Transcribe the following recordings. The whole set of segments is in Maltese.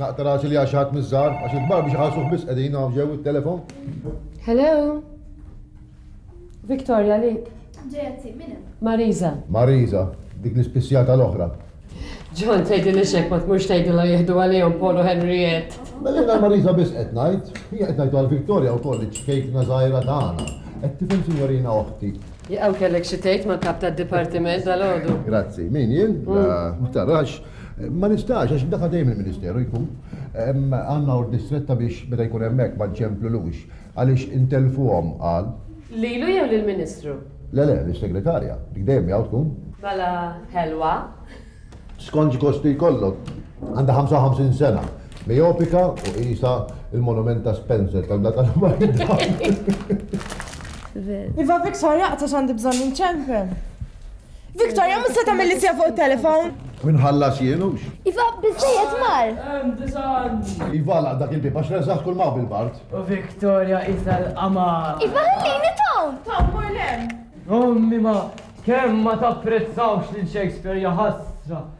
Naqta' rasi li għax għad mhi żgħar, għax il-kbar biex iħallsuh biss qegħdin, aw ġew it-telefon. Hello? Victoria għalik. Ġejja t-tim, min hemm? Marisa. Marisa, dik l-ispissjata l-oħra. John, tgħidi li xek ma tmurx tgħidi la jieħdu għalihom Polo Henriette. Mela jiena Marisa biss qed ngħid, hija qed ngħidu għal Victoria wkoll iċ-ċkejkna żgħira tagħna. Qed tifhem sinjorina oħti. Jaqgħu kellek xi tgħid mal-kap tad-dipartiment dal-għodu. Grazzi, min jien? Muħtar Rax. Ma nistax, għax dafa dejjem il-Ministeru jkun. Għandna ordni stretta biex meta jkun hemm hekk ma nċemplulux, għaliex intellfuhom, qal. Lilu jew lill-Ministru? Le le, lis-Segretarja, dik dejjem miegħu tkun. Mela ħelwa. Skont x'gostu jkollok. Għandha 55 sena, mijopika u qisha l-monument ta' Spencer tal-bla tal-Marjna. Iva Victor, jaqta' x'għandi bżonn inċempel. Victoria, mhux se tagħmel li fuq it-telefon? Min ħallas jien hux? Iva, biżejjed mar. Iva, laq dak il-biba x'reżaħ kull ma' bil-bard. U Victoria isa l-qama. Iva, ħallini tawn. Tawn mur lem. Ommi ma kemm ma tapprezzawx lil Shakespeare ja ħasra.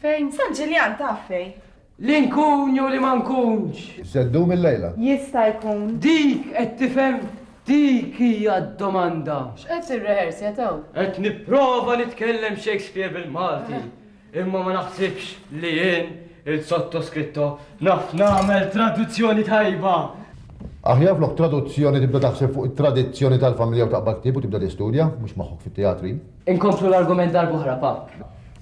Fejn? San Ġiljan taf fejn? Li nkun jew li ma nkunx. Se ddum illejla? Jista' jkun. Dik qed tifhem? Dik hija d-domanda. X'qed tirrehersja t'hawn? Qed nipprova nitkellem Shakespeare bil-Malti, imma ma naħsibx li jien, il-sottoscritto, naf nagħmel traduzzjoni tajba. Aħjar flok traduzzjoni tibda taħseb fuq it-tradizzjoni tal-familja u taqbad ktieb u tibda tistudja, mhux moħħok fit-teatri. Inkomplu l-argument darb'oħra, Pa.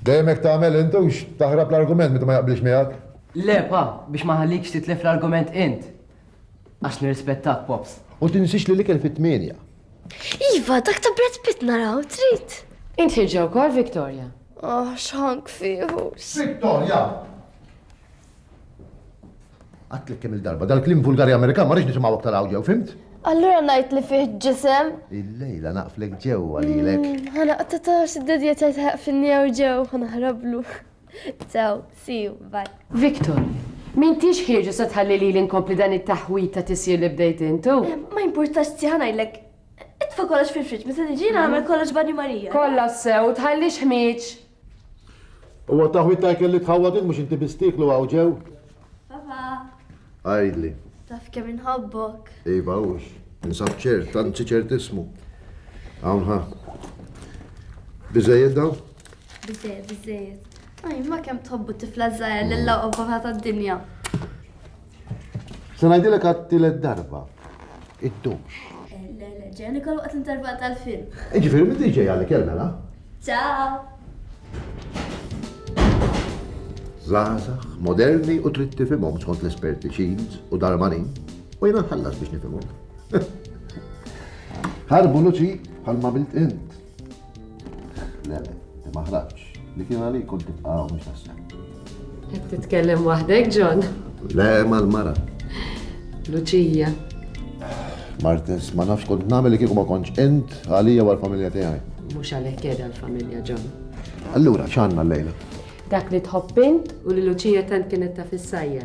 Dejjem hekk tagħmel int, hux taħrab l-argument meta ma jaqbilx miegħek. Le, Pa, biex ma nħallikx titlef l-argument int. Għax nirrispettak, Pops. U tinsiex li l-ikel fit-tmienja. Iva, dak ta' Brad Pitt naraw, trid? Int ħierġa wkoll, Victoria? Oh, x'ħonk fih, hux. Victoria! Għattlek kemm il-darba, dal-kliem vulgari Amerikan ma rridx nisimgħu aktar hawn ġew, fimt? Allura ngħid li fih ġisem? Illejla naqflek ġewwa lilek. Ħa naqta' tagħx id-daddy qed jgħid ħaqfinni hawn ġew, ħa naħrablu. Ciao, see you, bye. Victor, m'intix ħieġa se tħalli lili nkompli dan it-taħwid ta' tisjir li bdejt int, hu? Ma jimpurtax tia ngħidlek. Itfa' kollox fil-friġġ, meta niġi nagħmel kollox Banju Marija. Kollha sew, tħallix ħmieġ. Huwa taħwid ta' ikel li tħawwadin mhux inti biss tieklu hawn ġew. Papa. Għidli. Taf kemm inħobbok. Iva hux, insab ċert, anzi ċertismu. Hawn ħa. Biżejjed dawn? Biżejjed, biżejjed. Aj, ma kemm tħobbu tifla żgħira lil laqgħa tad-dinja. Se ngħidilek għat-tielet darba, iddumx. Le, le, ġej nikol waqt l-intervall tal-film. Iġifieri minn din ġejja l-ikel mela? Ciao! Zazax, moderni u trid tifhimhom skont l-esperti ċins u darmanin u jiena nħallas biex nifhimhom. Ħarbu luċi bħal ma bilt int. Le, le, inti ma ħrabtx. Li kien għalik kont tibqa' hawn biex tassew. Qed titkellem waħdek, John? Le, mal-mara. Luċija. Martes, ma nafx kont nagħmel li kieku ma kontx int għalija wara familja tiegħi. Mhux għalhekk qiegħda l-familja, John. Allura, x'għandna llejla? Dak li tħobb int u li Luċija tant kienet ta' fis-sajja.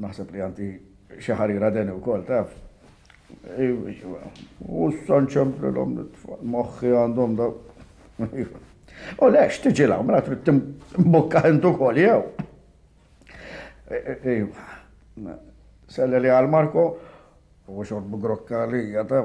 Naħseb li għanti xi ħarira deni wkoll taf. U s-san ċempli l-om moħħi għandhom da. U lex, tiġi la, mela trid timbukka intu kol jew. Selle li għal Marko, u xorb grokka li jgħataw.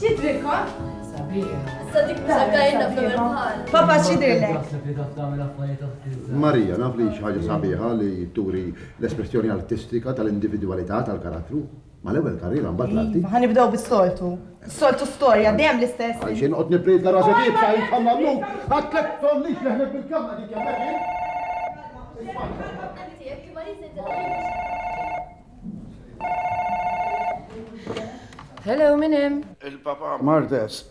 Ċidrika? Sabiħa. Sadik sabiħa. Papa ċidrika. Marija, naf li xaġa sabiħa li turi l-espressjoni artistika tal-individualità tal-karattru. Ma l-ewel karriera mbagħad iva, l-arti. Ħa nibdew bis-soltu. Soltu storja dejjem l-istess. Għalxin qod nibrid la rasa kif sa jitħalla llum. Għatlek tollix leħnek bil-kamma dik jagħmel. Hello, minn hemm? Il-papa Martes.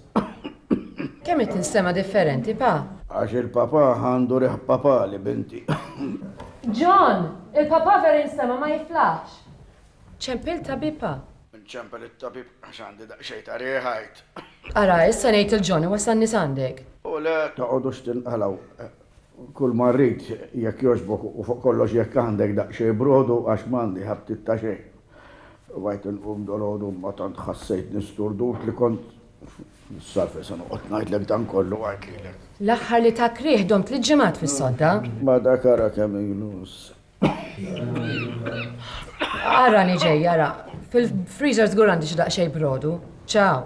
Kemm qed insema differenti, pa? Għax il-papa għandu riħ papa li binti. John, il-papa veri insema ma jiflaħx. Ċempil tabib, pa? Ċempil it-tabib għax għandi daqxej ta' riħajt. Ara, issa ngħid il-John wasanni sandek. U le toqgħodux tinqalaw. Kull ma rrid, jekk jogħġbok u fuq kollox jekk għandek daqsxejn brodu għax m'għandi ħabtit ta' xejn. Provajt inqum dolodu imma tant ħassejtni sturdut li kont Sarfil se noqgħod ngħidlek dan kollu għidt lilek. L-aħħar li tat riħ domt tliet ġimgħat fis-sodda. Ma dak ara kemm ilu. Ara ni ġej, ara. Fil-freezer zgur għandi xi daqsxej brodu. Ciao.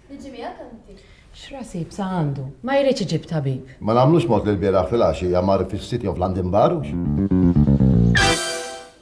Niġi miegħek anti. X'rasib sa għandu? Ma jridx iġib tabib. Ma nagħmlux mod li l-bieraħ fil-għaxija mar fis-City of London Bar.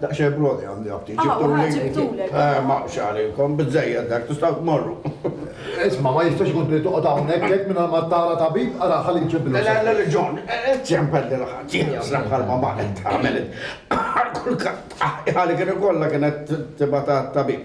Daqsxejn brodi għandi għabti. Ah, ġibtu l ġibtulek. Eh, ma xarilkom, bizzejja dak, tistaw tmorru. Isma, ma jistax kun li toqgħod hawnhekk hekk minn ma tara tabib ara ħalli ġiblu. La la la John, ċempel eh, eh, dil ħaġi, jasra bħal ma baqgħet tagħmel. Kull ħali kien ikollha kienet tibata tabib.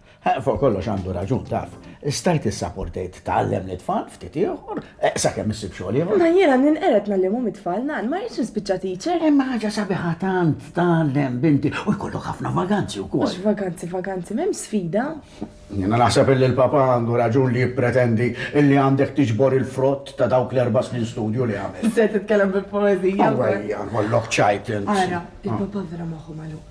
Fuq kollox għandu raġun, taf. Stajt issa pordejt tgħallem lit-tfal ftit ieħor, sakemm issib xogħol ieħor. Imma jiena ninqered ngħallimhom it-tfal, Nan, ma rridx nispiċċa teacher. Imma ħaġa sabiħa tant tgħallem, binti, u jkollok ħafna vaganzi wkoll. Mhux vaganzi, vaganzi, m'hemm sfida. Jiena naħseb illi l-papà għandu raġun li jippretendi illi għandek tiġbor il-frott ta' dawk l-erba' snin studju li għamilt. Se titkellem bil-poeżija. Awwejja, jkollok ċajt int. Ara, il-papà vera moħħu magħluq.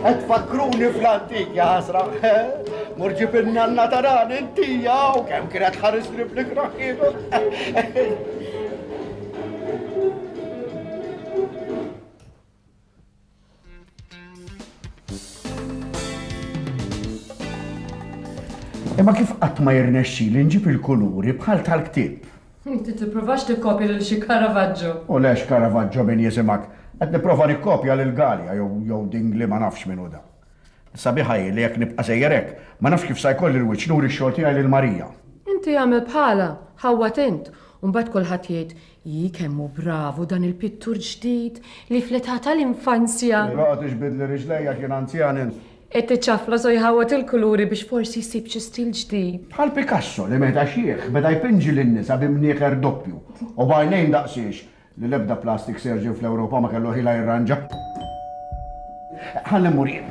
Qed fakruni fl-antik ja ħasra. Murġi bin-nanna taran intija u kemm kienet ħares li fl-ikraħilu. Imma kif qatt ma jirnexxi li nġib il-kuluri bħal tal-ktieb. Inti tipprovax tikkopja lil xi Caravaggio? U le x'Caravaggio min jisimgħek! Qed nipprova nikkopja lil Gallia jew jew Dingli ma nafx min hu dak. Is-sabiħa hi li jekk nibqa' sejjer hekk, ma nafx kif sa jkolli l-wiċċ nuri x-xogħol tiegħi lil Marija. Inti agħmel bħalha, ħawwad int, u mbagħad kulħadd jgħid, Ii kemm hu bravu dan il-pittur ġdid li fl-età tal-infanzja! Ejja oqgħod iġbidli riġlejja għax jien anzjan int! Qed iċaflas u jħawwad il-kuluri biex forsi jsib xi stil ġdid. Bħal Picasso li meta xiħ beda jpinġi lin-nisa bi mnieħer doppju u b'għajnejn daqsiex li l-ebda plastic surgeon fl-Ewropa ma kellu ħila jirranġa. Ħalli mmur jien.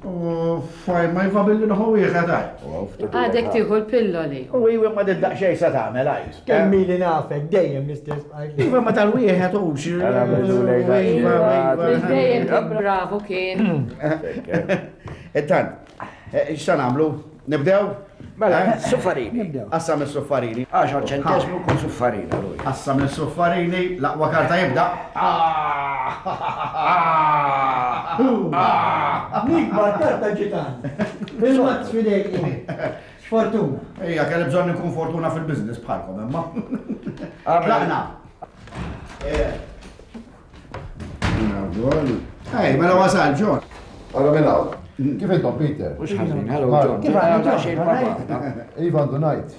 Fajn ma jqabil li ruħu wieħed għaj. Għadek tieħu l-pilloli. U iwa ma diddaq xej sa tagħmel għaj. Kemm li nafek dejjem l-istess għaj. Iwa ma tal-wieħed hux. Dejjem bravu kien. Intant, x'sa nagħmlu? Nibdew? Mela, suffarini. Nibdew. Qassam is-suffarini. 10 ċentesmu kull suffarina. Qassam is-suffarini, l-aqwa karta jibda. Nikbar karta ġitan. Il-mazz fidejni. Fortuna. Ejja, kelli bżonn ikun fortuna fil-biznis bħalkom, imma. Tlaqna. Eh. Ej, mela wasal John. Għara minn għaw. Kif intom, Peter? Mux ħazin, għallu John. Kif għallu xejn papa? Iva għandu najt.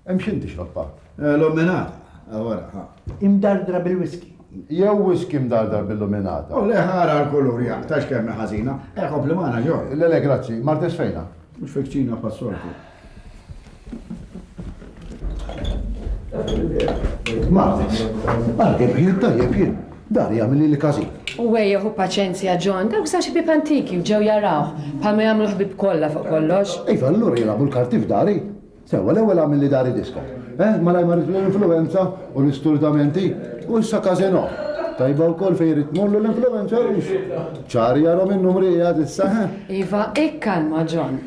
Hemm xi inti xroppa? Eh, L-omenata, għawara. Imdardra bil-whisky. Jew whisky mdardra bil-luminata. U le ħara l-kulur jgħak, tax kemm ħażina. Eħob eh, li maħna ġor. Le, le, grazzi. Martes fejna? Mux fekċina passorku. Għalli bħin tajjeb jien, dar jagħmel li każin. U għejja hu paċenzja John, dawk sa xbib antiki ġew jarawh, bħalma jagħmlu ħbib kollha fuq kollox. Iva, allura jilagħbu l-karti f'dari. Sewa l-ewwel għamil li dari disko. Eh, ma lajma l-influenza u l-isturdamenti u issa kazino. Tajba wkoll fejn irid mollu l-influenza u ċari jarom in-numri għad issa. Eh? Iva, ikkalma John.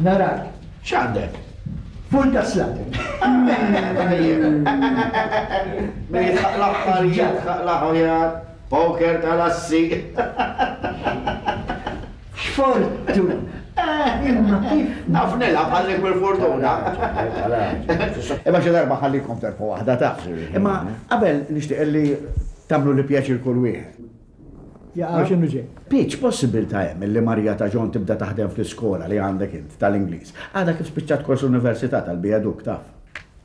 Narak. X'għandek? Full ta' slatin. Min jitħaq l-aħħar jitħaq l-aħjar. Poker tal-assi. X'fortuna! Eh, imma kif? Naf nilgħab ħallik bil-fortuna. Imma xi darba ħallikom terfu waħda taf. Imma qabel nixtieq li tagħmlu li pjaċir kull wieħed. Peach, possibilità hemm illi Marija ta' John tibda taħdem fl-iskola li għandek int, tal-Ingliż. Għadha kif spiċċat kors università tal-Bijadukt, taf.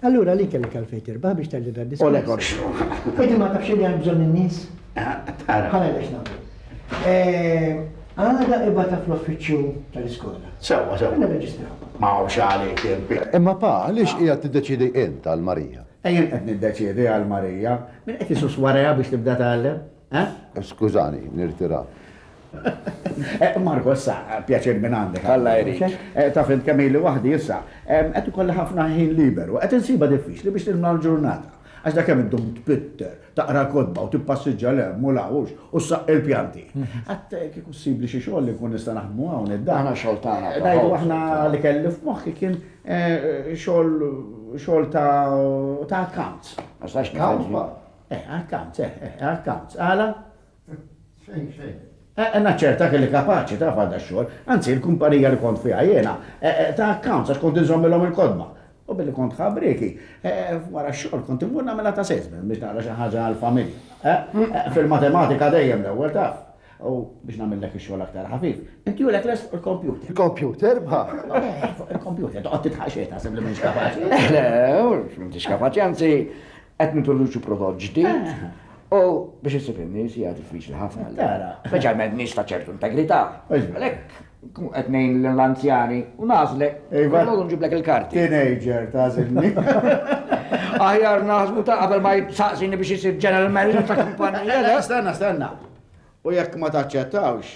Allura li kellek għalfejn tirbaħ biex tellina d-diskors? Oleg Oshchuk. Inti ma tafx li hemm bżonn in-nies? Tara. Ħa ngħidlek x'nagħmlu. Għada ibgħatha fl-uffiċċju tal-iskola. Sewwa, sewwa. Ħa nirreġistraw. M'hawnx għalik, Peach. Imma pa, għaliex qiegħed tiddeċiedi int għal Marija? E jien qed niddeċiedi għal Marija. Min qed isus warajha biex tibda tgħallem? Eh? Skużani, nirtira. Marko, issa, pjaċir minn għandek. Alla jrid. Taf int kemm ili waħdi issa. Qed ikolli ħafna ħin liberu. Qed insiba diffiċli biex nilma l-ġurnata. Għax da kemm iddum tpitter taqra l-kotba u tippassiġġa 'l hemm u 'l hawn u ssaqqi l-pjanti. Għad kieku ssibli xi xogħol li nkun nista' naħdmu hawn id-dar. Dan hu xogħol tagħna. Ngħidu aħna li kelli f'moħħi kien xogħol xogħol ta' ta' accounts. Ma stax. Accounts, pa? Eh, accounts, eh, eh, accounts. Għala? Xejn, xejn. Eh, eh, naċċerta kelli kapaċi ta' għal dax-xogħol, anzi l-kumpanija li kont fiha jiena, eh, ta' accounts għax kont inżommilhom il-kodba. U billi kont ħabrieki, wara x-xogħol kont immur nagħmilha ta' salesman biex naqra xi ħaġa għall-familja. Mm. Fil-matematika dejjem l-ewwel taf. U biex nagħmillek ix-xogħol aktar ħafif, inti julek les fuq il-kompjuter. Il-kompjuter ma? Fuq il-kompjuter, toqgħod titħaq xejn taħseb li mhux kapaċi. Le, mhux kapaċi, anzi Qed nintroduċu prodott ġdid u biex isib in-nies hija diffiċli ħafna. Tara. Speċjalment nies ta' ċertu integrità. Għalhekk nkun qed ngħin lill-anzjani u nagħżlek. Iva. Inkunu nġiblek il-karti. Teenager tagħżilni. Aħjar naħsbu ta' qabel ma jitsaqsini biex isir general manager ta' kumpanija. Stenna, stenna. U jekk ma taċċettawx,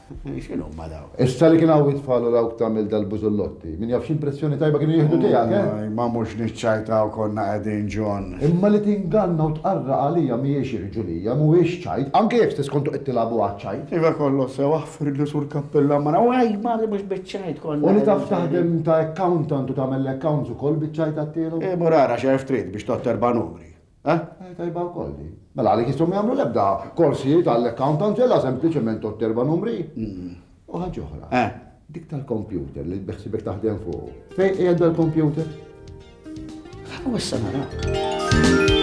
X'inhuma dawn? Issa li kien hawn it-tfal u dawk ta' Milda l-Bużullotti, min jaf x'impressjoni tajba kienu jieħdu tiegħek, eh? Oj, ma mhux niċċajtaw konna qegħdin John. Imma li tinganna u tqarraq għalija mhijiex irġulija, mhuwiex ċajt, anke jekk stess kontu qed tilgħabu għaċ-ċajt. Iva kollox sew, aħfirli sur Cappellan mara u għid mar li mhux biċ-ċajt konna. U li taf taħdem ta' accountant u tagħmel l-accounts ukoll biċ-ċajt għattielhom? Eh, mur ara x'għerf trid biex tgħodd erba' numri. Eh? Eh, tajba wkoll din. Mela għalhekk jistgħu ma jagħmlu l-ebda korsijiet għall-accountant ġela sempliċement tot terba numri. Mm. U ħaġa oħra. Eh. Dik tal-kompjuter li beħsibek taħdem fuq. Fej qiegħed dal-kompjuter? U issa nara.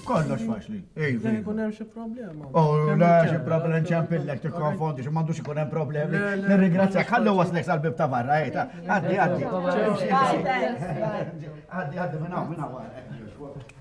Kollox faċli. Ejvi. Jkun hemm xi problema. Oh, la xi problema ċempillek tikkonfondi xi m'għandux ikun hemm problemi. Nirringrazzjak ħallu waslek sal-bib ta' barra, ejta. Għaddi, għaddi. Għaddi, għaddi minn hawn, minn hawn.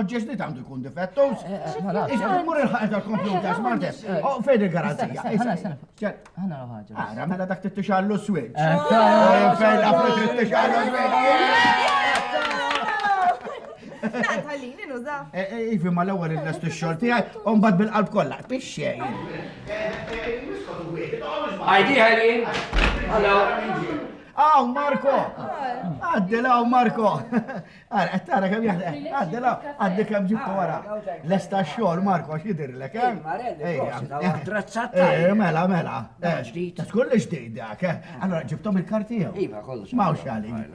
Oġġeżni għandu jkun difettus. Iżmur il-ħajja tal-kompjuter, smartes. Fejn il-garanzija? Għana ħagġa. Għara, mela dak t-tixallu s-switch. Fejn għafru t-tixallu s-switch. Ivi ma l-ewwel il-lest ix-xogħol tiegħi u mbagħad bil-qalb kollha. Bix xejn. I did, I did. Hello. Aw, Marko! Għaddil, aw, Marko! Għara, għattara kam jahda, għaddil, għaddi kam ġibtu għara. L-esta xol, Marko, xidir l-ek, eh? Eh, mela, mela. Ġdid. Kull ġdid dak, eh? Allora, ġibtom il-karti jew? Iva, kollox. Mawx għalik.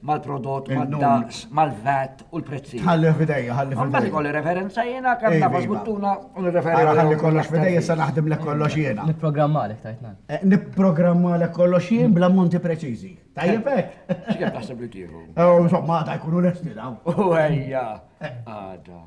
mal-prodott, mal-daqs, mal-vat u l-prezzijiet. Ħalli fidejja, ħalli fidejja. Mbagħad ikolli referenza jiena kemm nafas iva, iva. buttuna u nirreferi. Ara ħalli kollox fidejja sa naħdem lek kollox jiena. Nipprogrammalek tajtna. Eh, nipprogrammalek kollox jien bl-ammonti preċiżi. Tajjeb hekk. X'kemm taħseb li tieħu? Oh, insomma, għada jkunu lesti dawn. U oh, ejja. Eh. Għada.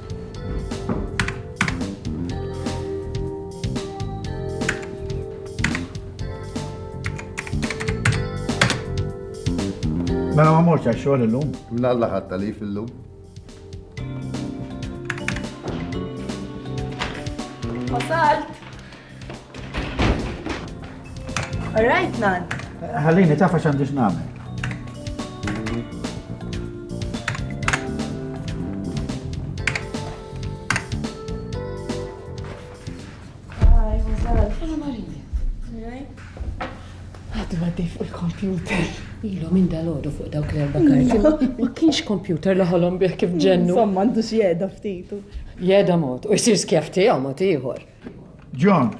Mela ma morċa xogħol illum. Mela Alla ħatta li fil-lum. Wasalt! All right, Nan. Ħallini tafa x'għandi x'nagħmel. computer. Ilu minn dal-ħodu fuq dawk l-erba karti. Ma kienx computer li ħolom bih kif ġennu. Insomma, għandu xjeda ftitu. Jeda mod, u jisir skjaf tiegħu mod ieħor. John,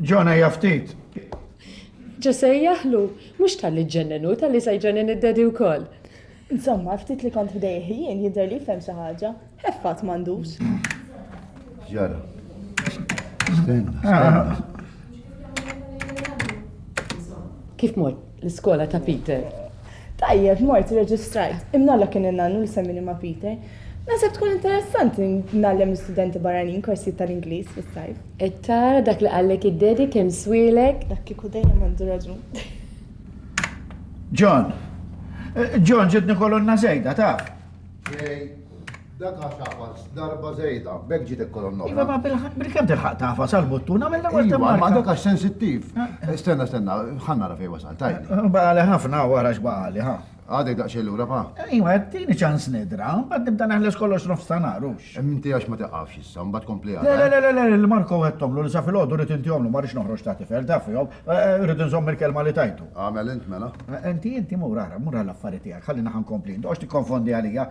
John ejja ftit. Ġose jaħlu, mhux tal-li ġennenu, tal-li sa jġennen id-dedi wkoll. Insomma, ftit li kont fdejh jien jidher li fem xi ħaġa. Heffat m'għandux. Ġara. Stenna, stenna. Kif mod? l-iskola ta' Peter. Tajjeb, mort, reġistrajt. Imnalla kien in-nannu li semmieni ma' Peter. Naħseb tkun interessanti ngħallem l-istudenti barranin korsijiet tal-Ingliż fis-sajf. Qed tara dak li qallek id-Daddy kemm swielek? Dak kieku dejjem għandu raġun. John, John, ġietni kolonna żejda, taf. Ġej. Dak għax għafas darba żejda, b'hekk ġiet ikkolonnata. Iva, ma bilkemm tilħaq tagħfas għall-buttun, għamel l-ewwel stemmarka. Iva, ma dak għax sensittiv. Stenna, stenna, ħa nara fejn wasalt, għidli. Baqgħali ħafna u ara x'baqgħali, ħa. Għadek daqsxejn lura, pa? Iva, tini ċans nidra, mbagħad nibda neħles kollox nofstanhar, hux? Hemm inti għax ma tiqafx issa, mbagħad kompli għal. Le, le, le, le, le, Marko għedtomlu li sa filgħodu rrid intihomlu, ma rridx noħroġ ta' tifel, taf fihom, rrid inżomm il-kelma li tajtu. Għamel int mela. Inti, inti mur ara, mur għal affarijiet tiegħek, ħalli naħa nkompli, inti għax tikkonfondi għalija,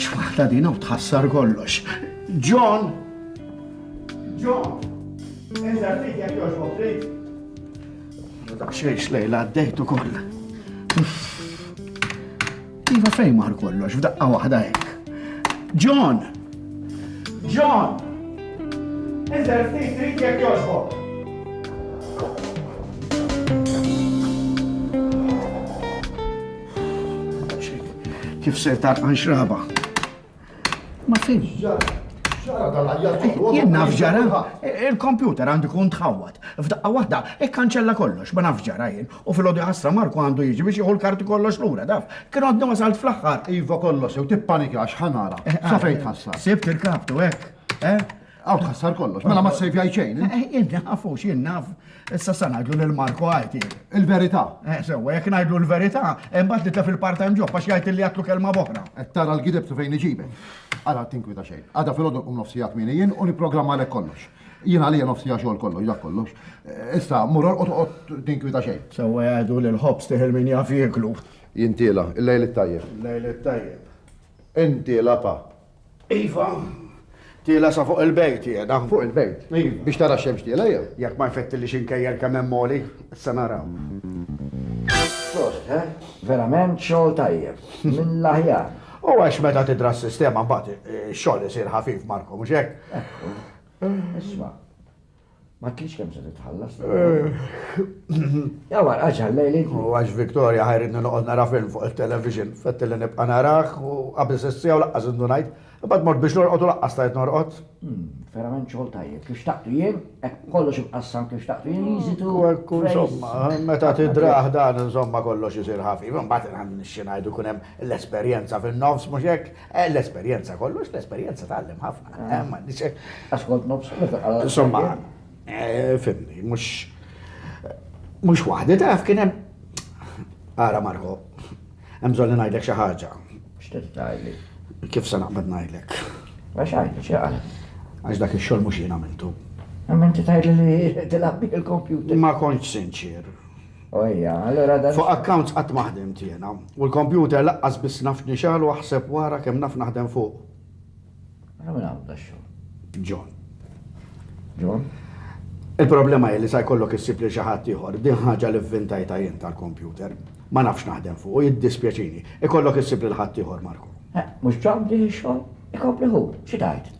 X'waħda dina u tħassar kollox. John! John! Enza fik jek joġbo fik. Dak xejx lejla għaddejtu kollha. Iva fejn mar kollox f'daqqa waħda hekk. John! John! Iżel ftit trid jekk jogħġbok. Kif ser tarqan xraba? Ma fim. Jien naf ġara, il-kompjuter għandu kun tħawwat. F'daqqa waħda, ikkanċella kollox, ma naf ġara jien. U fil-ħodu ħasra Marku għandu jiġi biex jieħu l-karti kollox lura, daf. Kien għodni wasalt fl-aħħar. Iva kollox, u tippanikax, ħanara. Eh, Sa fejn tħassar? Sibt il-kaptu, hekk. Eh? Għaw tħassar kollox, mela ma t-sejvjaj xejn. Eh? Eh, jien naf, u xien naf, issa sa najdlu l-Marko għajti. Il-verita. Eh, sewa, jek najdlu l-verita, imbat li tef il-part-time job, għax jgħajt li għatlu kelma boħra. Tara l-gideb tu fejn iġibe. Għara tinkwita xejn. Għada fil-ħodu nqum nofsijak minni jien u niprogramma lek kollox. Jien għalija nofsija xogħol kollox, dak kollox. Issa, muror u toqgħod tinkwita xejn. Sewa jgħidu li l-ħobs tiħil min jaf jiklu. Jintila, il-lejl it-tajjeb. Il-lejl it-tajjeb. Inti lapa. Iva, tiela sa fuq il-bejt jena. Fuq il-bejt? Iva. Biex tara xemx tiela jew? Jekk ma jfetti li xinkejjer kemm hemm moli, issa naraw. Prost, eh? Verament xogħol tajjeb. Mill-aħjar. U għax meta tidra s-sistema mbagħad eh, xogħol isir ħafif Marko, mhux hekk? Isma', Ma kienx kemm se titħallas. Jawar, għax għallejli. U għax Victoria ħajridni noqgħod nara film fuq il-television, fetti li nibqa' naraħ u qabel sessija u laqqas indunajt. Imbagħad mort biex norqod u laqqas tajt norqod. Hmm, verament xogħol tajjeb. Kif xtaqtu jien, hekk kollox imqassam kif xtaqtu jien li jżidu. U hekk insomma, meta tidraħ dan insomma kollox isir ħafif. Imbagħad nixxi ngħidu kun hemm l-esperjenza fin-nofs mhux hekk. L-esperjenza kollox, l-esperjenza tgħallem ħafna. Għax kont nobs Insomma, fimni, mhux mhux waħdi taf kien hemm Ara Marko, hemm bżonn li ngħidlek xi ħaġa. X'trid tgħidli? Kif se naqbad ngħidlek? Ma x'għajli x'għal. Għax dak ix-xogħol mhux jien għamiltu. Imma inti tgħidli li tilab il-kompjuter. Ma kontx sinċier. U hija, allura dan. Fuq accounts qatt ma ħdimt jiena. U l-computer laqqas biss naf x'nixgħalu aħseb wara kemm naf naħdem fuqu. Mela min għamlu dax-xogħol? John. John? Il-problema hi li sa jkollok issib lil xi ħadd ieħor, din ħaġa li vvintajtha jien tal-computer. Ma nafx naħdem fuqu, jiddispjaċini. Ikollok issib lil ħaddieħor, Marco. Mhux John bdieħ ix-xogħol? Ikompli hu, xi tgħid?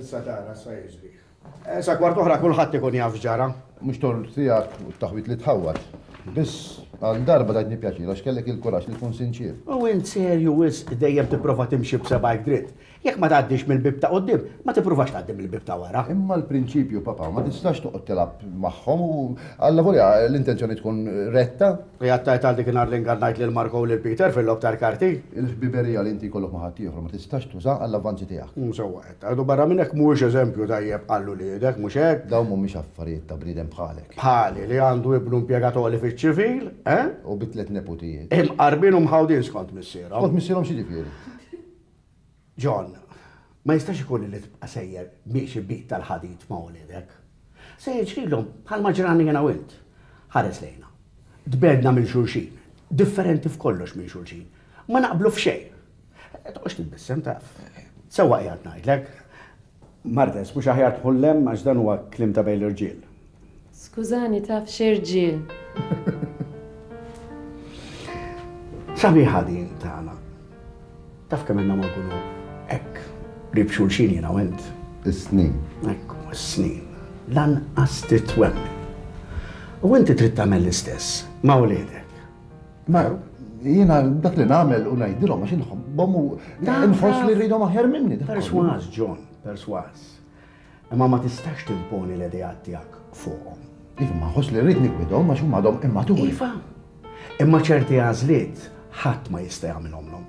Issa tara sa jiġri. Eh, sa kwart oħra kulħadd ikun jaf ġara. Mhux tor tiegħek u taħwit li tħawwat. Biss għal darba tajtni pjaċir għax kellek il-kuraġġ li tkun sinċier. U int serju wisq dejjem tipprova timxi b'sebgħek dritt. Jekk ma tgħaddix mill-bib ta' qudiem, ma tippruvax tgħaddi mill-bib ta' wara. Imma l-prinċipju papa ma tistax toqgħod tilab magħhom u alla volja l-intenzjoni tkun retta. Jattajt għal dikinhar li ngannajt lil Marco u lil Peter fil-logħob tal-karti. Il-ħbiberija li inti jkollok ma' ħaddieħor ma tistax tużaha għall-avvanzi tiegħek. Hu sewwa qed tgħid u barra minn hekk mhuwiex eżempju tajjeb għal uliedek, mhux hekk? Dawn mhumiex affarijiet ta' bniedem bħalek. Bħali, li għandu ibnu impjegat għoli fiċ-ċivil, eh? U bi tliet neputijiet. Imqarbin u mħawdin skont missierhom. Skont missierhom x'jiġifieri? John, ma jistax ikun li tibqa' sejjer miexi b'id tal-ħadid ma' uliedek. Se jiġrilhom bħalma ġralna jiena u int. Ħares lejna. Tbegħdna minn xulxin. Differenti f'kollox minn xulxin. Ma naqblu f'xejn. Toqgħodx titbissem, taf. Sewwa qiegħed ngħidlek. Martes, Mhux aħjar tħu l-lemm għax dan huwa kliem ta' bejn l-irġiel. Skużani taf xi rġiel. Sabiħa din tagħna. Taf kemm inna ma nkunu hekk qrib xulxin jiena u int. Is-snin. Ekku, is-snin. Lanqas titwemmen. U inti trid tagħmel l-istess ma' wliedek. Ma jiena dak li nagħmel u ngħidilhom għax inħobbhom u nħoss li rridhom aħjar minni. Persważ, John, persważ. Imma ma tistax timponi l-ideat tiegħek fuqhom. Iva, ma nħoss li rrid nigbidhom għax huma għadhom immaturi. Iva, imma ċerti għażliet ħadd ma jista' jagħmilhomlhom.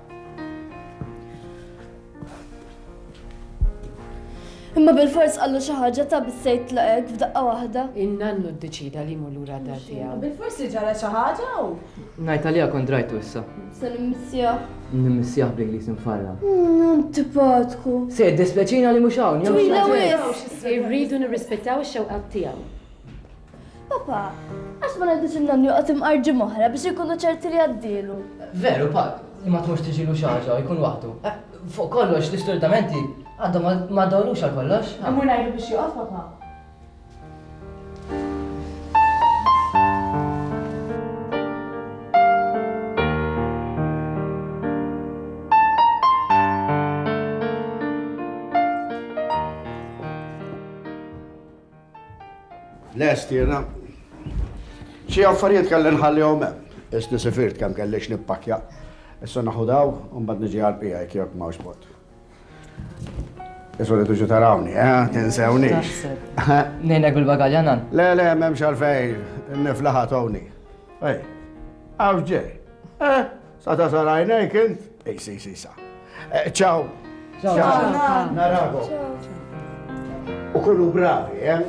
Imma bil-fors qallu xi ħaġa ta' bissejt tlaqek f'daqqa waħda. In-nannu ddeċida li jmur lura dar tiegħu. Bil-forsi ġara xi ħaġa u. Ngħid għaliha kont rajtu issa. Se nimmissjah. Nimmissjah bl-Ingliż infarra. Antipatku. Se dispjaċina li mhux hawn. Twila wisq. Irridu nirrispettaw ix-xewqat tiegħu. Papa, għax ma ngħidux in-nonnu joqgħod imqar ġimgħa oħra biex ikunu ċerti li jgħaddielu. Veru, pa, imma tmux tiġilu xi ħaġa jkun waħdu. Eh, fuq kollox l-isturdamenti għadhom ma dawlux għal kollox. Imur ngħidu biex joqgħod, papa. Lest jiena. Xi affarijiet kelli nħallihom hemm. Is nisifirt kemm kelli x'nippakja. Issa naħu daw u mbagħad niġi għal pija jekk jekk m'hawnx bot. Isu li tuġu tarawni, eh, tinsewni. Nejna għul bagalja nan. Le, le, memx għalfej, niflaħa tawni. Ej, għawġġej, eh, Sa ta' sar għajnejk int? Ej, si, si, sa. Eh, ciao. Ciao. Narago. U kollu bravi, eh?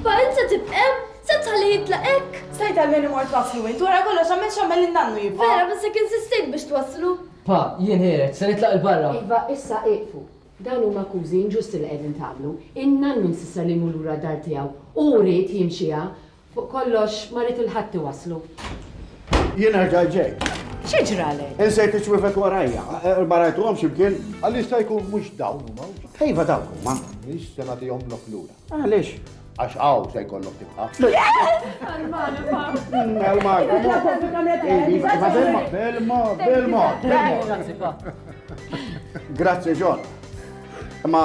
Pa' inta tibqem, sa tħalli jitlaq ek. Stajt għal-menu mort waflu int, wara kollox għamil xammel il-nannu jibqa. Vera, bissa kien sistejt biex twaslu. Pa, jien ħeret, se nitlaq il-barra. Iva, issa iqfu. Dan huma akkużi inġusti li qegħdin tagħmlu. Innan minn sissa li mulura dar tiegħu u rrid jimxija Fuq kollox, ma rrid il-Ħadd iwasslu. Jien erġajt ġejt. Xi ġralek? Insejt iċ-ċwifet warajja, ma rajtuhom x'imkien. Għalissa jkun mhux dawn huma. Ħejva dawn huma. Mhix se nagħtihom lok lura. Għaliex? Għax hawn se jkollok tibqa'. Għal-malfa. Belma, belma, belma, belma. Grazzi, John. Ma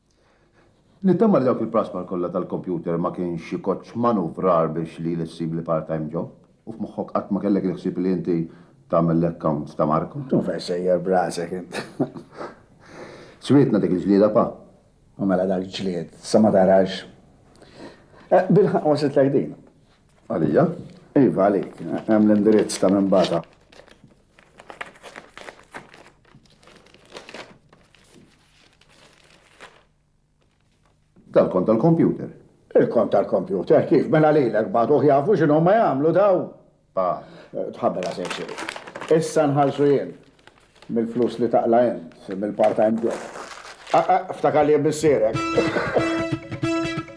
Nittama li dawk il-plasmar kollha tal-kompjuter ma kienx xi koċċ manuvrar biex lil issib li part-time job u f'moħħok qatt ma kellek il-ħsieb li inti tagħmel l-account ta' Marco. U fejn sejjer b'rasek int? Swietna dik il-ġlieda pa! U mela dak ġlied, sa ma tarax. Bilħaqq waslitlek din? Għalija? Iva, għalik. Hemm l-indirizz ta' min bagħatha. Tal-kont tal-kompjuter. Il-kont tal-kompjuter kif mela lilek bagħtuh jafu x'inhu ma jagħmlu daw. Pa. Eh, tħabbela se jsir. Issa nħallsu jien. Mill-flus li taqla int, mill-part-time job. Ah, ah, ftakar li jemmissierek.